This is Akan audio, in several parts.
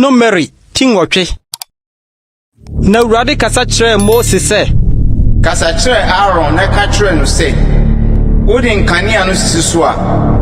No Mmeri ti nwɔtwe. Na Awurade kasa kyerɛɛ Mose sɛ. Kasa kyerɛ Aaron na ka kyerɛ no sɛ, Wode nkanea no sisi so a,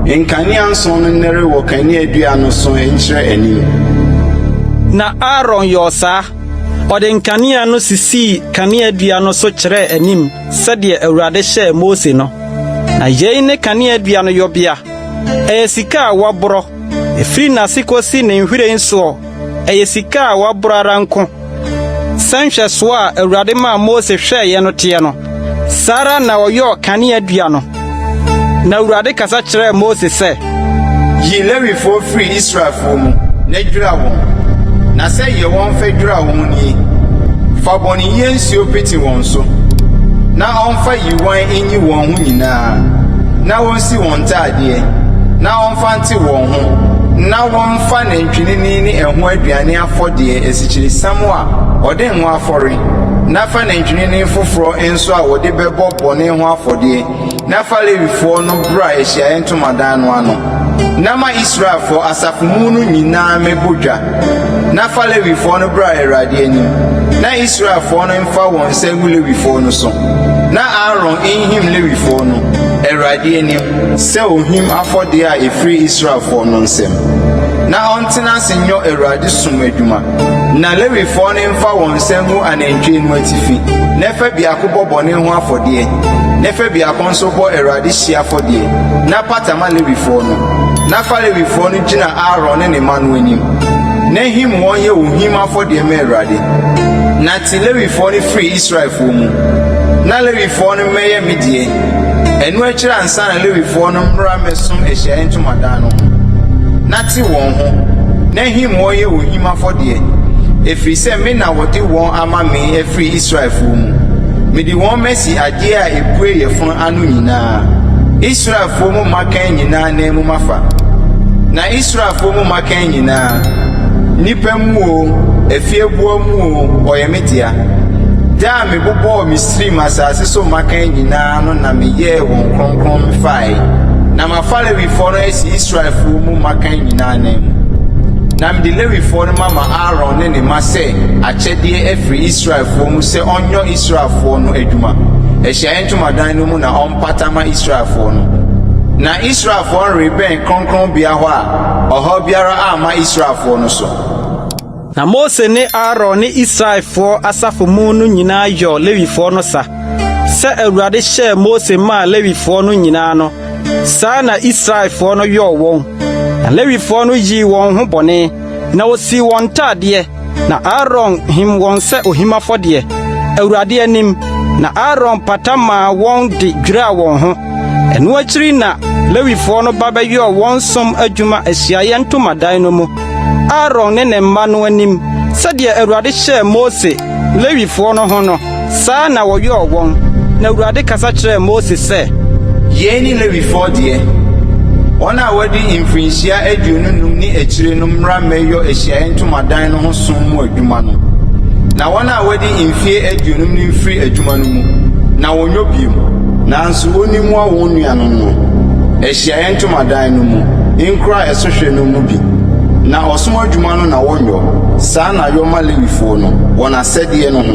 nkanea nson no nnɛre wɔ kaneadua no so nkyerɛ anim. Na Aaron yɔɔ saa. Ɔde nkanea no sisii kaneadua no so kyerɛɛ anim. sɛdeɛ Awurade hyɛɛ Mose no. Na yei ne kaneadua no yɔbea, ɛyɛ sika a wɔaborɔ, ɛfiri n'ase kɔsi ne nhwiren soɔ, ɛyɛ sika a wɔaborɔ ara nko. Sɛ nhwɛsoɔ a Awurade maa Mose hwɛeɛ no teɛ no, saa ara na ɔyɔɔ kaneadua no. Na Awurade kasa kyerɛɛ Mose sɛ. Yi Lewifoɔ firi Israelfoɔ mu na dwira wɔn, na sɛdeɛ wɔmfa dwira wɔn nie, Fa bɔneyɛ nsuo pete wɔn so, na ɔmfa yiwan nyi wɔn ho nyinaa, na ɔnsi wɔn ntaadeɛ, na ɔmfa nte wɔn ho, na wɔmfa nantwinini ne ɛho aduane afɔdeɛ asikyiresiam a ɔde ngo afɔre, na fa nantwinini foforɔ so a wɔde bɛbɔ bɔne ho afɔdeɛ, na fa Lewifoɔ no bra ahyiaeɛ ntomadan no ano, na ma Israelfoɔ asafo mu no nyinaa mmɛbɔ dwa, na fa Lewifoɔ no bra Awurade anim, na Israelfoɔ no mfa wɔn nsa ngu Lewifoɔ no so, na Aaron nhim Lewifoɔ no Awurade anim sɛ ohim afɔdeɛ a ɛfiri Israelfoɔ no nsam, na ɔntena ase nyɔ Awurade som adwuma. Na Lewifoɔ no mfa wɔn nsa ngu anantwie no atifi, na ɛfa biako bɔ bɔne ho afɔdeɛ, na ɛfa biako nso bɔ Awurade hyeɛ afɔdeɛ, na pata ma Lewifoɔ no. Na fa Lewifoɔ no gyina Aaron ne ne mma no anim, na him wɔn yɛ ohim afɔdeɛ ma Awurade. Na te Lewifoɔ no firi Israelfoɔ mu, na Lewifoɔ no mmɛyɛ me deɛ. Ɛno akyiri ansa na Lewifoɔ no mmra mmɛsom ahyiaeɛ ntomadan no ho. Wɔbɛte wɔn ho, n'ahimmɔɔ yɛ ohim afɔdeɛ, ɛfiri sɛ me na wɔde wɔn ama me afiri Israelfoɔ mu. Mede wɔn masi adeɛ a ɛpue yɛ fono ano nyinaa, Israelfoɔ mu mmakan nyinaa nan mu mafa. Na Israelfoɔ mu mmakan nyinaa, nnipa mu oo, afieboa mu oo, wɔyɛ me dea. Da a mebobɔɔ Misraim asase so mmakan nyinaa no na meyɛɛ wɔn kronkron mefaeɛ. Na mafa Lewifoɔ no asi Israelfoɔ mu mmakan nyinaa ananmu, na mede Lewifoɔ no mama Aaron ne ne mma sɛ akyɛdeɛ afiri Israelfoɔ mu sɛ ɔnyɔ Israelfoɔ no adwuma, Ahyiaeɛ Ntomadan no mu na ɔmpata ma Israelfoɔ no. Na Israelfoɔ no rebɛn kronkronbea hɔ a ɔhaw biara amma Israelfoɔ no so. Na Mose ne Aaron ne Israelfoɔ asafo mu no nyinaa yɔɔ Lewifoɔ no sa, sɛ Awurade hyɛɛ Mose maa Lewifoɔ no nyinaa no, saa ara na Israelfoɔ no yɔɔ wɔn. Na Lewifoɔ no yii wɔn ho bɔne, na wɔsii wɔn ntadeɛ, na Aaron him wɔn sɛ ohim afɔdeɛ, Awurade anim, na Aaron pata maa wɔn de dwiraa wɔn ho. Ɛno akyiri na Lewifoɔ no ba bɛyɔɔ wɔn som adwuma ahyiaeɛ ntomadan no mu. Aaron ne ne mma no anim, sɛdeɛ Awurade hyɛɛ Mose, Lewifoɔ no ho no, saa ara na wɔyɔɔ wɔn. Na Awurade kasa kyerɛɛ Mose sɛ. Yei ne Lewifoɔ deɛ, wɔn a wɔadi mfirinhyia aduonu nnum ne akyire no mmra mmɛyɔ ahyiaeɛ ntomadan no ho som mu adwuma no, na wɔn a wɔadi mfeɛ aduonum no mfiri adwuma no mu, na wɔnyɔ bio. Nanso wɔnni mmoa wɔn nuanom no. Ahyiaeɛ Ntomadan no mu nkura ɛso hwɛ no mu bi, na ɔsom adwuma no na wɔnyɔ, saa na yɔ ma Lewifoɔ no, wɔn asɛdeɛ no ho.